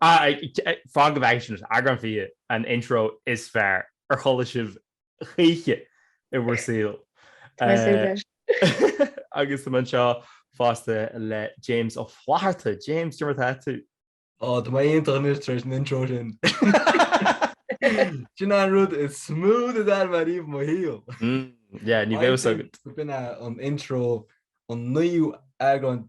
Fan go bhfeicfidh sibh eagrán fiche an intro is fearr ar chuala sibh choíche i bhur saol. Agus tá mé anseo fosta le James Ó Flatharta. James, cad é mar atá tú? Ó, tá mé iontach anois tar éis an intro sin. Sin an rud is mó de d'ainm ariamh mo shaol. Yeah, ní bheadh fhios agat. B'in é an intro an naoú eagrán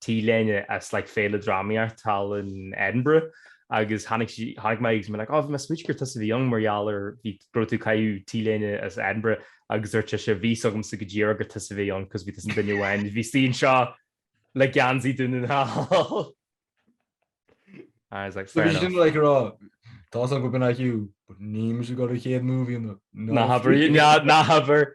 T-léine as like Féile Drámaíochta thall in Edinburgh agus tháinig sí tháinig mé agus mé like oh bhí mé ag smaoitiú gur tusa a bhí ann mar gheall ar bhí go raibh tú ag caitheamh T-léine as Edinburgh agus dúirt sise bhí a fhios agamsa go díreach gur tusa a bhí ann cos bhí tusa an duine amháin a bhíos anseo le geansaí Dún na nGall. I was like fair enough. Sin like rá tá san go bin IQ but ní muis go raibh chéad movie ná habair ná habair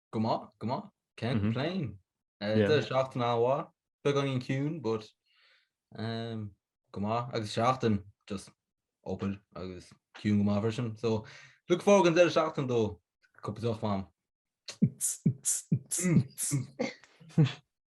Go maith, go maith. Can't complain. Tá seachtain an-mhaith, beagáinín ciúin, but go maith agus seachtain just obair agus ciúin go maith freisin. So look forward an deireadh seachtaine dó, cúpla deoch a'm.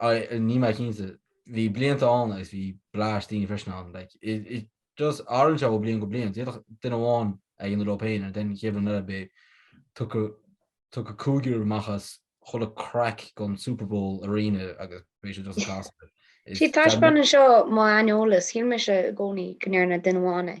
Níl mé cinnte. Bhí blianta ann agus bhí blais daoine freisin ann. Like, it, it just, athraíonn sé ó bliain go bliain. D'fhéadfadh duine amháin é a dhéanamh leo féin and then an chéad bhliain eile b'fhéidir tiocfadh, tiocfadh cúigear amach as chuile crack den Super Bowl Arena agus bhí sé just gasta. Is Sea, taispeánann seo mo aineolas. Shíl mise i gcónaí go ndearna duine amháin é.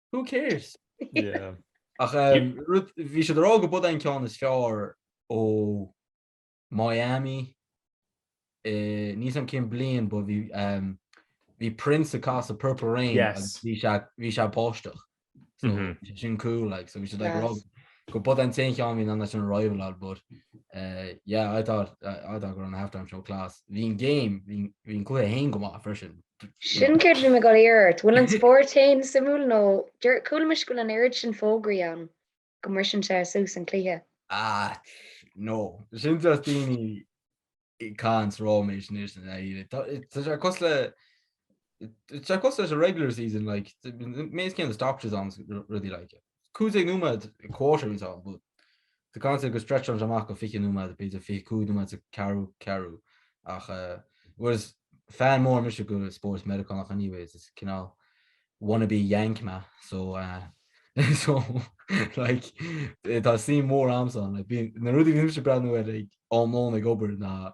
Who cares? Yeah. Ach um, rud- bhí siad ag rá go b'iod an ceann is fearr ó Miami. Eh, níl fhios a'm cén bhliain, but bhí um, bhí Prince ag casadh Purple Rain Yes. agus bhí sé bhí sé ag báisteach. So Mhm. bhí sé sin cool like so bhí siad like Yes. ag rá go b'iod an t-aon cheann a bhí in ann é sin a rival-áil but uh, yeah I thought I, I thought go raibh an halftime show class. Bhí an game bhí bhí an cluiche féin go maith freisin. Sin céard a bhí mé ag goil a iarraidh ort. An bhfuil an spórt féin suimiúil nó chuala mise go bhfuil an oiread sin fógraí ann go mbriseann sé suas an cluiche? Ah, no. Sin just daoine ag caint ráiméis anois i ndáiríre. Tá sé an-chosúil le, tá sé an-chosúil leis an regular season like, méid céanna stops ann agus rudaí like. 15 nóiméad, a quarter in town, but the concept go stretcheann sé amach go 20 nóiméad, b'fhéidir 25 nóiméad sa ceathrú ceathrú, ach it was fan mór mise de spóirt Meiriceánach anyways, is cineál wannabe yank mé, so so like tá suim mhór a'm san, na rudaí a bhí mise ag breathnú air ag am lóin ag obair ná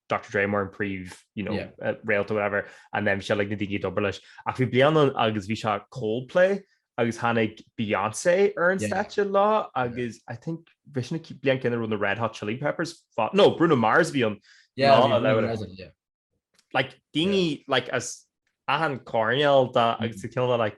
Dr Dre mar an príomh you know, yeah. uh, réalta whatever and um, se le na daoine a d'obair leis ach bhí bliain agus bhí sé Coldplay agus tháinig Beyoncé ar an yeah. stáitse leo agus yeah. I think bhí sé bliain éigin raibh na Red Hot Chili Peppers fa nó Bruno Mars bhí an yeah, lá, lá, lá, lá, yeah. like daoine yeah. like as achan coirnéal de agus mm. ceanna like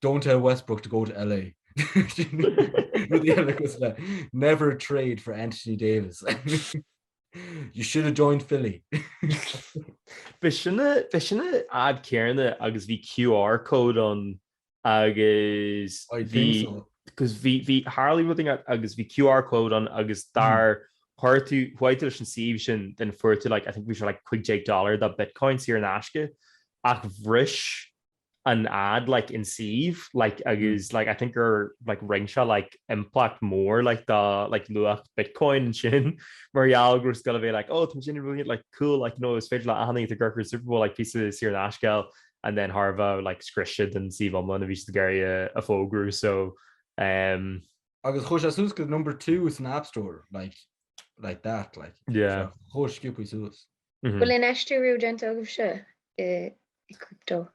Don't tell Westbrook to go to LA. Rudaí eile cosúil le Never trade for Anthony Davis. You should have joined Philly. B'é sin a, b'é sin an ad céanna agus bhí QR code ann agus I bhí, think so. agus bhí, bhí Harley rud ag- agus bhí QR code ann agus dar chuir tú, chuaigh tú leis an suíomh sin then fuair tú like, I think bhí sé like 15 dollar de Bitcoin saor in aisce ach bhris an ad like an suíomh like agus like I think gur like rinne sé like impact mór like dá like luach Bitcoin ansin mar gheall go raibh sé ag gabháil a bheith like oh tá muidne really like cool like you know is féidir le éinne atá ag amharc ar Super Bowl like píosa saor in aisce a fháil and then thar a bheith like scrios siad an suíomh iomlán a bhí siad ag iarraidh a a fógrú so um Agus chuaigh sé suas go number two san app store like like that like yeah chuaigh sciobtha suas. Bhfuil infheistiú riamh déanta agaibhse i crypto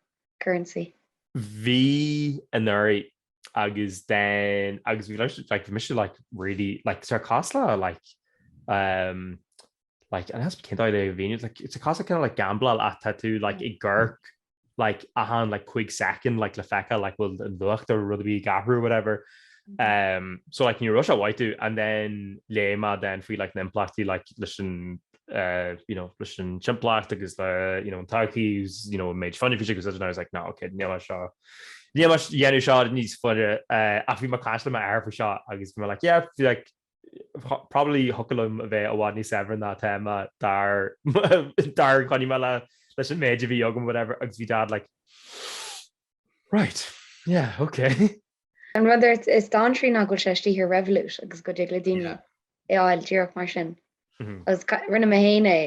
currency? Bhí anuraidh agus then agus bhí leis like bhí mise like really like tá sé cosúil le like um like an has cineál de bhí like sé cosúil le kind of like gambláil ach tá tú like i gcónaí like achan like cúig second like le feiceáil like bhfuil an luach ar rud ar bith ag athrú whatever um so like ní raibh sé maith domh and then léigh mé then faoi like na impleachtaí like leis an uh you know leis an timpeallacht agus le you know an todhchaí agus you know an méid fuinnimh faoi sin agus I was like no ok níl mé seo níl mé ag déanamh seo níos fuide uh ach bhí mé ag caint le m'athair faoi seo agus bhí mé like yeah like Probably thiocfadh liom a bheith i bhfad níos saibhre ná atá mé dar dar choinnigh mé le leis an méid a bhí agam whatever agus bhí Dad like Right, yeah, ok. An rud is dainséaraí ná go bhfuil sé istigh ar Revolut agus go dtig le daoine é fháil díreach mar sin. Agus rinne mé féin é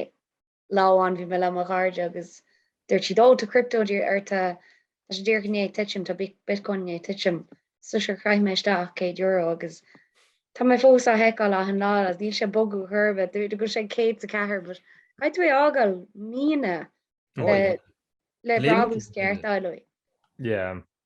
lá amháin bhí mé le mo chairde agus dúirt siad, oh tá crypto díreach ortsa, tá sé díreach i ndiaidh titim, tá bitcoin i ndiaidh titim. So sure chaith mé isteach céad euro agus tá mé fós á sheiceáil achan lá agus níl sé ag bogadh chor ar bith, dúirt go raibh sé ag 104 but caithfidh tú é fhágáil míonna le brabús ceart a fháil uaidh. Yeah.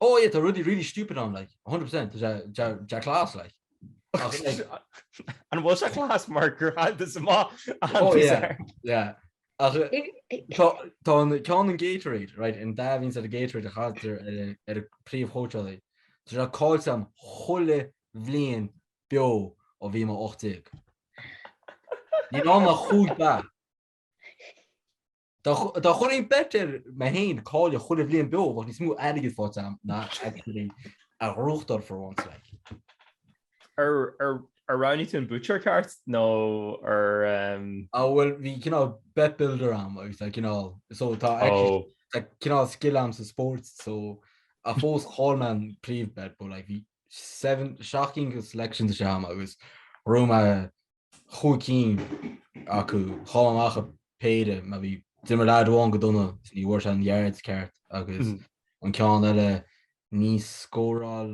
Oh yeah tá rudaí really stupid ann like 100% tá sé tá class like ach like an bhfuil sé class mar gur thaighde sa má oh yeah yeah ach tá an ceann an Gatorade right an dath a bhíonn sa Gatorade a chaitear ar an bpríomhchóitseálaí tá sé caillte a'm chuile bhliain beo ó bhí mé 18 ní ná na chúig ba Dá gcuirfinn bet ar mé féin cailleadh chuile bhliain beo, bheadh níos mó airgid faighte agam ná actually a ghnóthachtáil for once like. Ar roghnaigh tú an buaiteoir ceart nó ar... Á bhuel bhí cineál bet builder a'm agus tá cineál so tá cineál skill a'm sa sport so a fós chaill mé an príomh bet but like bhí seven shocking selections istigh a'm agus ghnóthaigh mé Chúig cinn acu chaill mé amach ar péire mar bhí. D'imir leaid amháin go dona is ní bhfuair sé an yards ceart agus an ceann eile níor scóráil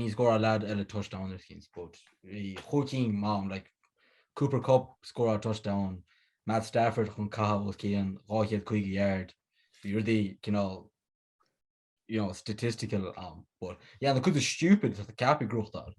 níor scóráil leaid eile touchdown ar chinn but bhí chúig cinn a'm like Cooper Kupp scóráil touchdown, Matt Stafford chun caitheamh os cionn 250 yard, bhí rudaí cineál you know statistical ann but yeah na cuid is stupid atá ceaptha gnóthachtáil.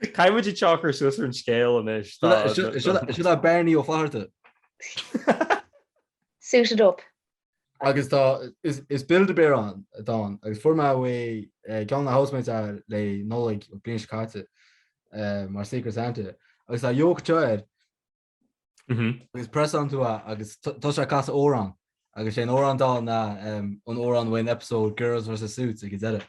Caithfidh muid é a chur suas ar an scéal anois. Sin é Barney Ó Flatharta. Suited up. Agus tá, is Build-A-Bear atá ann, agus fuair mé uaidh eh, ceann de na housemates é le Nollaig an bhliain seo caite eh, mar Secret Santa, agus tá yoke toe air, mhm. agus pressann tú é agus tá sé ag casadh amhrán, agus sé an t-amhrán atá ann ná an t-amhrán ón episode Girls vs. Suits ag an deireadh.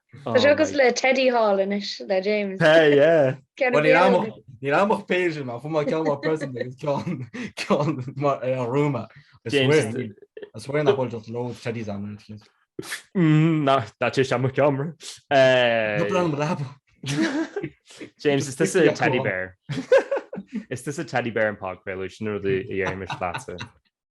Tá agus le Teddy Hall inis le James. Ní amach péidir má chum ceá president an rúma. As bhfuin na bhil lo Teddy an. nach dat sé sem camera James is this a teddy bear Is this a teddy bear in park revolution or the Irish plaza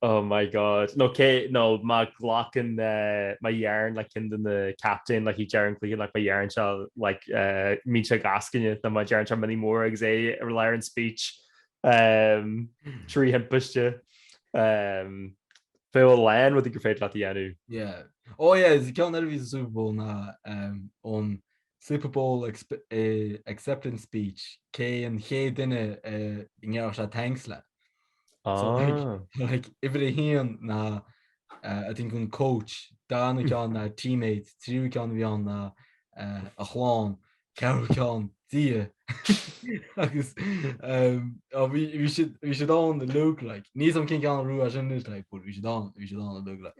Oh my God nó cé nó má ghlacann eh, má dhéanann like ceann de na captaein like i ndeireadh an chluiche like má dhéanann sé eh, má bhíonn sé ag eascaine nó má deireann sé mionnaí móra agus é i lár an speech um, trí thimpiste um, an bhfuil aon rud gur féidir leat a dhéanamh. Yeah. Ó, oh, yeah, is ceann eile a bhí sa Super Bowl ná um, ón Super Bowl acceptance speech, cé an chéad duine a ngabhfadh sé thanks le. So like, uimhir a haon ná I think an coach, dara ceann ná teammate, tríú ceann a bhí ann ná a chlann, ceathrú ceann Dia. Agus bhí siad ann uilig like. Níl 'fhios a'm cén ceann a ghnóthaigh as sin anois like, but bhí siad ann uilig like.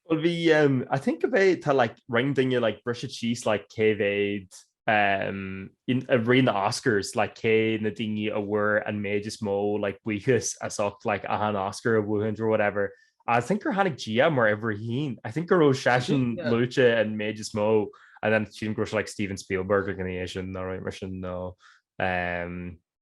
Bhuel bhí ehm I think go mbeidh tá like roinnt daoine like briseadh síos like cé mhéad ehm i rith na Oscars like cé na daoine a bhfuair an méid is mó like buíochas as ucht like aha an Oscar a bhuachaint or whatever I think gur tháinig Dia mar uimhir a haon I think go raibh seisean yeah. luaite an méid is mó and then sílim go raibh sé like Steven Spielberg i ndiaidh sin nó mar sin nó ehm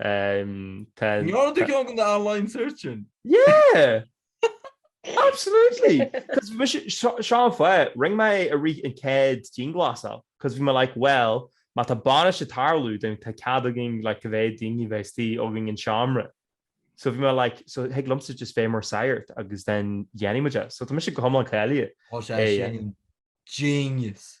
Níor de cheann de do line search sin? Yeah! Absolutely! Seán Foy, rinne mé i rith an céad dianghlasáil, cos bhí mé like, well, má tá bainis ag tarlú, tá cead againn like cá mhéad daoine a bheith istigh againn sa tseomra. So bhí mé like, so thig liomsa just bheith mar sagart agus then dhéanfaidh muid é. So tá mise go hiomlán cáilithe. Tá sé sin genius!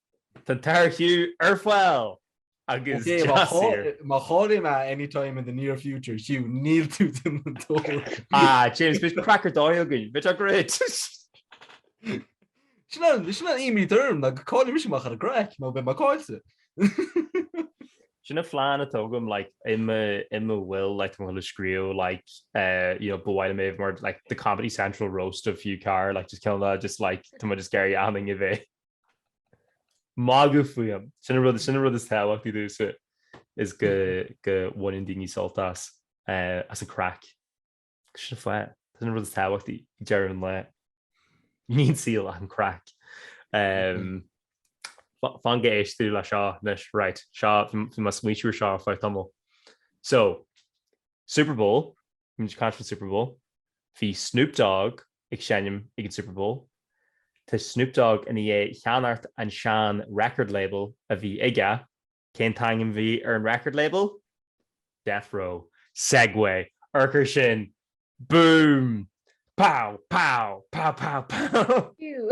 Tá Tarchiu ar fail agus Jassir. Má chailltear mé any time in the near future, Hugh, beidh tú ag déanamh dóibh. Ah, James, beidh craic ar dóigh againn, beidh sé great. Sin an, sin an imíd orm, ná go cáiligh mise amach ar an gcraic, nó beidh mé cáilte. Sin an phlean atá agam, like, i mo, i mo will, like, tá mé á scríobh, like, eh, you know, ba mhaith liom é a bheith mar, like, the Comedy Central roast of Hugh Carr, like, just kill me, just, like, tá mé just ag iarraidh daoine a bheith. Magadh fúm. Sin an rud, sin an rud is tábhachtaí domhsa is go, go bhaineann daoine sult as, as an craic. Sin fá, sin an rud is tábhachtaí ag deireadh an lae. Níl sa saol ach an craic. Fan go n-éiste tú le seo, anois, right, seo, bhí mé ag smaoitiú air seo le tamall. So, Super Bowl, bhí muid ag caint faoin Super Bowl. Bhí Snoop Dogg ag seinm ag an Super Bowl. Tá Snoop Dogg i ndiaidh ceannacht an sean record label a bhí aige. Cén t-ainm a bhí ar an record label? Death Row. Segue! Urchar ansin! Boom! Pow! Pow! Pow! Pow! Pow! Phew!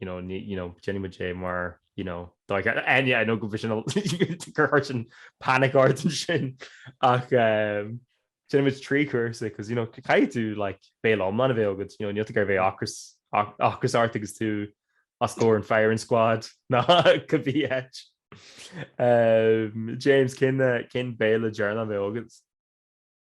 you know, ni, you know, déanann muid é mar you know, dá ceart and yeah, I know go, bhí sin, gur chuir sin panic ort ansin ach um, déanann muid trí chúrsa cos you know, caithfidh tú like, béile iomlán a bheith agad you know, níl tú ag iarraidh bheith ocras ocras ort agus tú os comhair an firing squad nó cibé. Um, James cén cén béile deireanach a bheadh agat.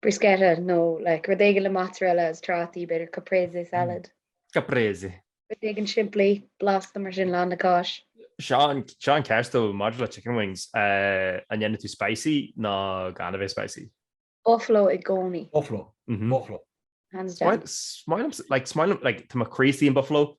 Bruschetta nó like rud éigin le mozzarella is trátaí, b'fhéidir caprese salad. Caprese. Rud éigin simplí, blasta mar sin, lán le cáis. Seo an cheist dó maidir le chicken wings, an ndéanann tú spicy nó gan a bheith spicy? Buffalo i gcónaí. Buffalo. Buffalo. Hands down. Smaoinim, like smaoinim, like tá mo chroí istigh in buffalo,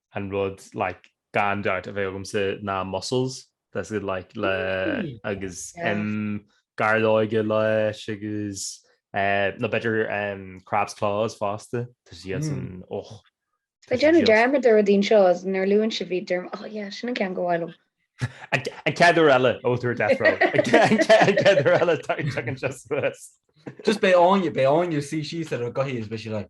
an rud like gan dabht a bheidh agamsa ná mussels, that's it like le agus um gairleoige leis agus uh nó b'fhéidir um crab claws fosta tá sí as an och. Tá mé ag déanamh dearmad de rudaí anseo is nuair luann sibh iad dearmad oh yeah sin an ceann ba mhaith liom. An chéad uair eile a bheidh tú ar death row. An chéad uair eile tagann sé suas. Just beidh Áine beidh Áine suí síos ar an gcathaoir is beidh sí like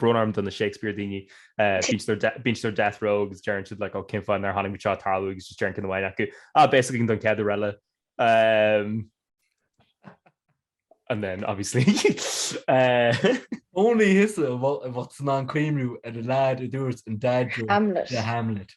brón orm do na Shakespeare daoine. Bíonn siad ar death row agus deireann siad like oh cén fáth nár chonaic muid seo ag tarlú agus just deireann duine amháin acu ah beidh a fhios againn don chéad uair eile. Um, and then obviously uh, Níl a fhios an bhfuil sin an cuimhin leat an lead a dúirt an dad Hamlet. Hamlet.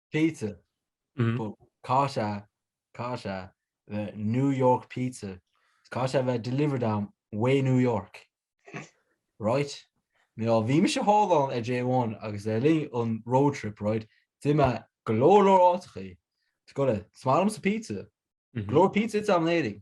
Pizza. But caithfidh sé, caithfidh sé a bheith New York pizza, caithfidh sé a bheith delivered dom ó New York. Right? Now, bhí mise thall ann ar J1 agus le linn an road trip, right, d'ith mé i go leor leor áiteachaí. So is maith liomsa pizza. Go leor pizza ite agam in Éirinn.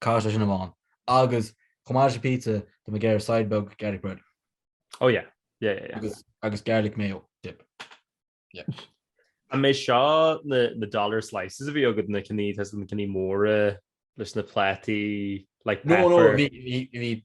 Cás leis sin amháin. Agus chomh maith leis an pizza, tá mé ag iarraidh side beag garlic bread. Oh yeah. Yeah, yeah, yeah. Agus, agus garlic mayo dip. Yeah. An mbeadh seo na, na dollar slices a bhí agat na cinní, tá a fhios agat na cinní móra leis na plátaí, like No, no, paper? bhí, bhí, bhí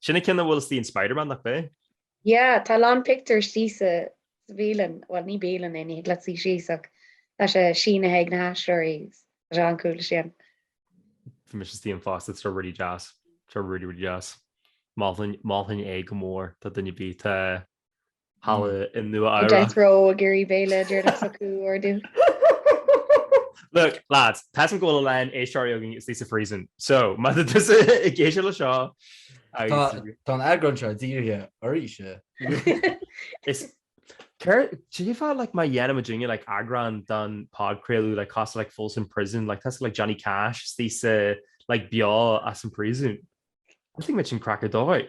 Sin an ceann a bhfuil sa scannán Spiderman, nach b'é? Yeah, tá lán pictiúr istigh sa bhialann, bhuel ní bialann é, ní thig leat suí síos ach tá sé sínithe ag na haisteoirí, tá sé an-cool leis sin. Bhí mise istigh ann fosta, tá sé really deas, tá sé really really deas. Mholfainn é go mór, má tá duine ar bith ag dul. thall i Nua-Eabhrac. Nó death row ag iarraidh béile a dtriail ag socrú ordú. Look, lads, tá a fhios agam go bhfuil a lán éisteoirí againn istigh sa phríosún, so má tá tusa ag éisteacht le seo agus. Tá an eagrán seo dírithe ort. Is céard, cén fáth like nach dhéanfaimid duine like eagrán don podchraoladh like cosúil like Folsom Prison like tusa like Johnny Cash is tusa like beo as an príosún. I think go mbeadh sin craic ar dóigh.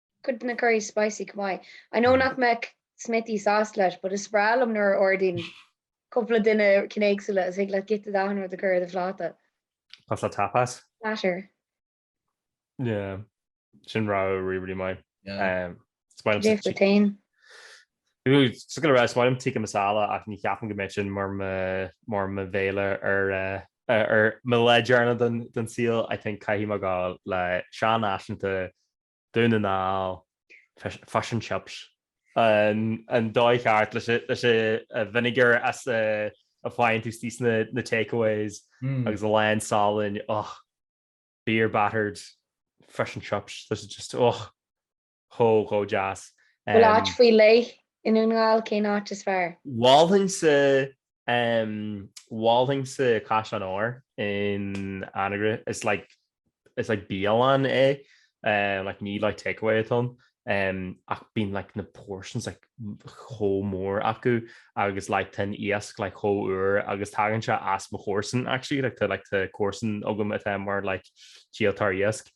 Cuid de na curries spicy chomh maith I know nach mbeadh Smithy sásta leis but is breá liom nuair a ordaíonn cúpla duine cinn éagsúla is thig leat giota d'achan rud a chur ar do phláta. Cosúil le tapas. Platter. Yeah. Sin rogha really really maith. Yeah. Is maith liom Dé sa fuair tain. Sus go raibh is maith liom tikka masala ach ní cheapaim go mbeadh sin mar mo mar mo bhéile ar ar mo lá deireanach den den saol. I think caithfidh mé gabháil le seanfhaiseanta Dún na nGall, Fish and Chips. An dóigh cheart leis an vinegar as a bhfaigheann tú istigh sna takeaways agus a lán salainn, ugh. Beer battered fish and chips, tá sé just, ugh, chomh deas. Bhfuil áit faoi leith i nDún na nGall, cén áit is fearr? Mholfainnse Mholfainnse Caisleán Óir in Anagaire. Is like is like bialann é, like ní like takeaway atá ann, ach bíonn like na portions like chomh mór acu agus like tá an iasc like chomh úr agus tagann sé as mo chomharsan actually, like tá like tá comharsan agam atá mar like díoltóir iasc,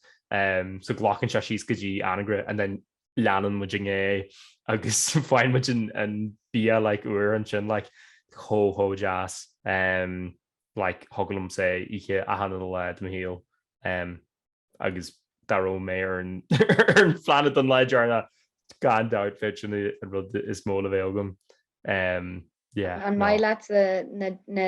so glacann sé síos go dtí Anagaire and then leanann muid ina dhiaidh agus faigheann muid an bia like úr ansin like chomh chomh deas um like thiocfadh liom sin a ithe achan uile lá de mo shaol um agus dá raibh mé ar an ar an phláinéad an lá deireanach gan dabht bheadh sin an rud is mó le bheith agam um yeah. An maith leat na na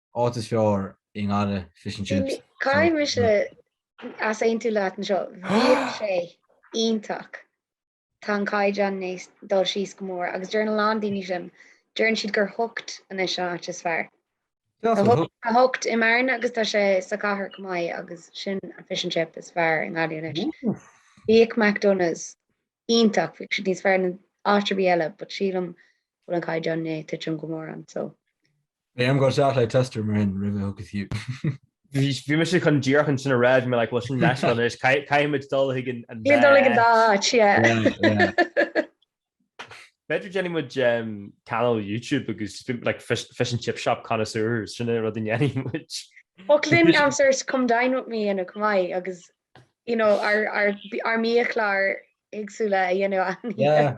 áit is fearr i nGaillimh fish and chips Bhí, caithfidh mise easaontú leat anseo, bhíodh sé iontach. Tá an caighdeán i ndiaidh dul síos go mór agus deireann a lán daoine sin, deireann siad gur hooked anois an áit is fearr. Tá hooked, tá hooked i mBearna agus tá sé sa chathair chomh maith agus sin an fish and chip is fearr i nGaillimh anois. Bhíodh McDonagh's iontach, bhíodh siad níos fearr ná áit ar bith eile but sílim go bhfuil an caighdeán i ndiaidh titim go mór ann so. Beidh orm dul isteach le Tester mar sin roimhe thug fiú. Bhí mise chun díreach chun sin a rá, bhí mé like bhuel sin leithscéal anois, caithfimid dul chuig an dá áit. Caithfimid dul chuig an dá áit, yeah. B'fhéidir déanfaidh muid cainéal YouTube agus like fish and chip shop connoisseurs, sin é an rud a ndéanfaidh muid. Thiocfadh linn concerts come dine with me a dhéanamh chomh maith agus you know ár mbiachláir éagsúla a dhéanamh ann. Yeah.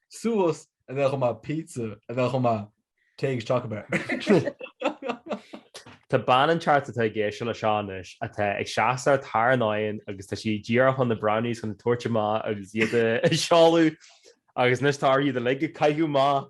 Suas a bheadh chomh maith pizza a bheadh chomh maith téigh isteach ab fhearr. Tá bean an tearc atá ag éisteacht leis seo anois atá ag seasamh thar an oigheann agus tá sí díreach chun na brownies chun a thabhairt amach agus iad a sheoladh agus anois tá uirthi iad uilig a chaitheamh amach.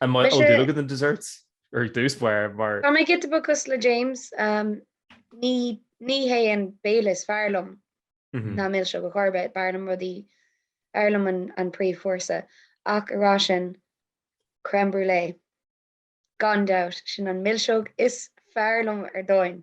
An mbíonn dúil agat in dessert? Ar dtús báire mar. Tá mé giota beag cosúil le James, ní hé an béile is fearr liom ná milseog ar chor ar bith, b'fhearr liom rudaí, b'fhearr liom an príomhchúrsa. Ach ag rá sin, crème brûlée, gan dabht, sin an milseog is fearr liom ar domhain.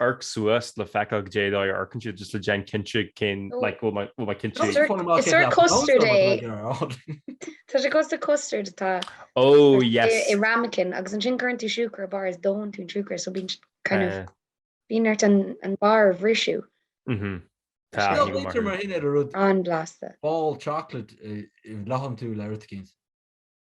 Amharc suas le feiceáil cad é atá ar cinntí just le déanamh cinnte cén like bhfuil mé bhfuil mé cinnte Is fuair mé Is ar a custard é. Tá sé cosúil le custard atá oh i yes i ramekin agus ansin cuireann tú siúcra ar barr is dónn tú an siúcra so bíonn kind of eh bíonn ort an an barr a bhriseadh. mhm tá Is go ní go bhfuiltear mar maith sin ar a rud An-bhlasta. ball chocolate i i bhladhann tú le rud éicint.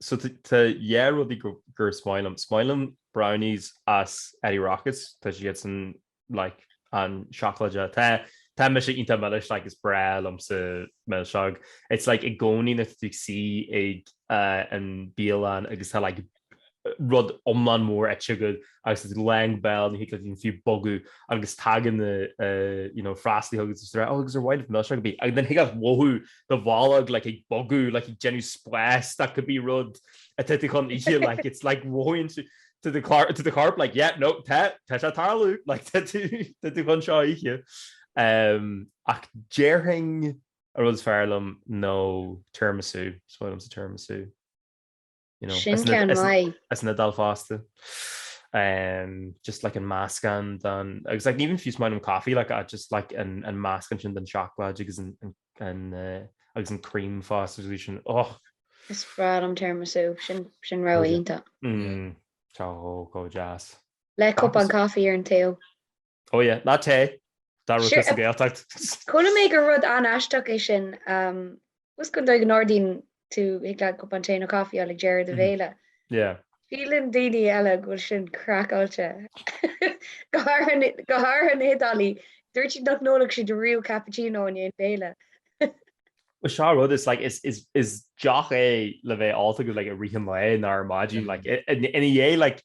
So tá dhá rudaí gur is maith liom. Is maith liom brownies as Eddie Rockets, tá siadsan like an-seacláide. Tá tá mise iontach milis like is breá liomsa milseog. It's like i gcónaí nuair atá tú ag suí ag an bialann agus tá like rud iomlán mór ite agat agus it's like bhuel ní thig liom fiú bogadh agus tagann na you know freastalaithe chugat agus tú ag rá oh ar mhaith libh milseog? Agus then thig leat a mhothú do bholg like ag bogadh like ag déanamh spáis that could be rud atá tú chun ithe like it's like mothaíonn tú do chorp do chorp like yeah no tá tá sé ag tarlú like tá tú tá tú chun seo a ithe um, ach déarfainn an rud is fearr liom nó tiramisu is fearr liomsa tiramisu Sin cean mai as na dal fásta. um just like an mask an dan agus like even fuse mine coffee like I just like an an mask an den chocolate agus an an uh, agus an cream fast resolution och Is brad am term so sin sin ra inta mm, Tá go jazz Le cop an coffee ar an tail Oh yeah, nó tae! Dá raibh tú sa Gaeltacht! Chuala mé gur rud an-aisteach é sin. Tá a fhios agat an dóigh a n-ordaíonn tú thig leat cupán tae nó caife a fháil ag deireadh do bhéile. Síleann daoine eile go bhfuil sin craiceáilte. Go háirithe na hIodálaí, dúirt siad nach n-ólfadh siad riamh cappuccino i ndiaidh an bhéile. Bhuel seo rud is like is deoch é le bheith ólta go like i rith an lae nó ar maidin like ina dhiaidh like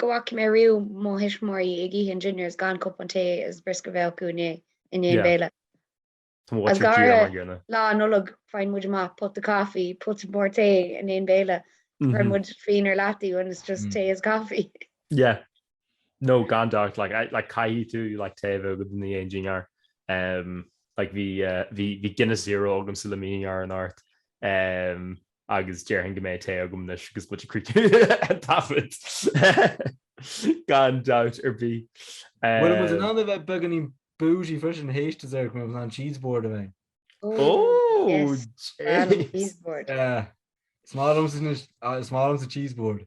Go bhfaca mé riamh mo thuismitheoirí ag ithe an dinnéar is gan cupán tae is briosca a bheith acu ina dhiaidh i ndiaidh an bhéile. Is go háirithe Lá Nollag faigheann muid amach pota coffee, pota mór tae i ndiaidh an bhéile. Cuireann muid fíon ar leataobh and it's just tae is coffee. Yeah. No, gan dabht, like caithfidh tú like tae a bheith agat i ndiaidh an dinnéir. Like bhí Guinness Zero agamsa le mo dhinnéar anocht. agus déarfainn go mbeidh tae agam anois agus muid ag críochnú an taifead. Gan dabht ar bith. Bhfuil muid in ann a bheith beagáinín bougie freisin, théis do dhinnéar, mar bhfuil an cheese board a bheith. Ó, James! Is maith liomsa cheese board.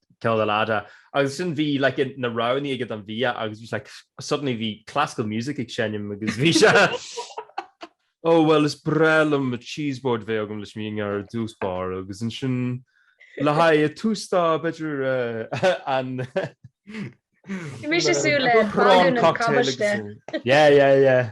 ceann eile fhada agus ansin bhí like na roghnaí aige don bhia agus bhí like suddenly bhí classical music ag seinm agus bhí sé oh well is breá liom mo cheese board bheith agam leis mo dhinnéar i dtús báire agus ansin le haghaidh a tús dá b'fhéidir uh, an Bhí sé ag súil le cocktail agus yeah yeah yeah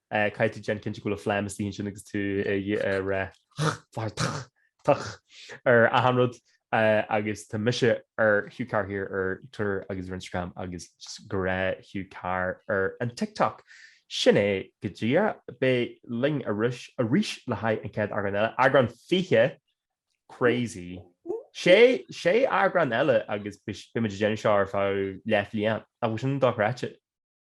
Caithfidh tú déanamh cinnte go bhfuil an phlean istigh ansin agus tú ag rith ar achan rud agus tá mise ar Hugh Carr here ar Twitter agus ar Instagram agus just go raibh Hugh Carr ar an TikTok. Sin é go dtí bígí linn arís le haghaidh an chéad eagrán eile. Eagrán 20! Crazy! Sé eagrán eile agus beimid ag déanamh seo ar feadh leath bhliain. Nach bhfuil sin dochreidte?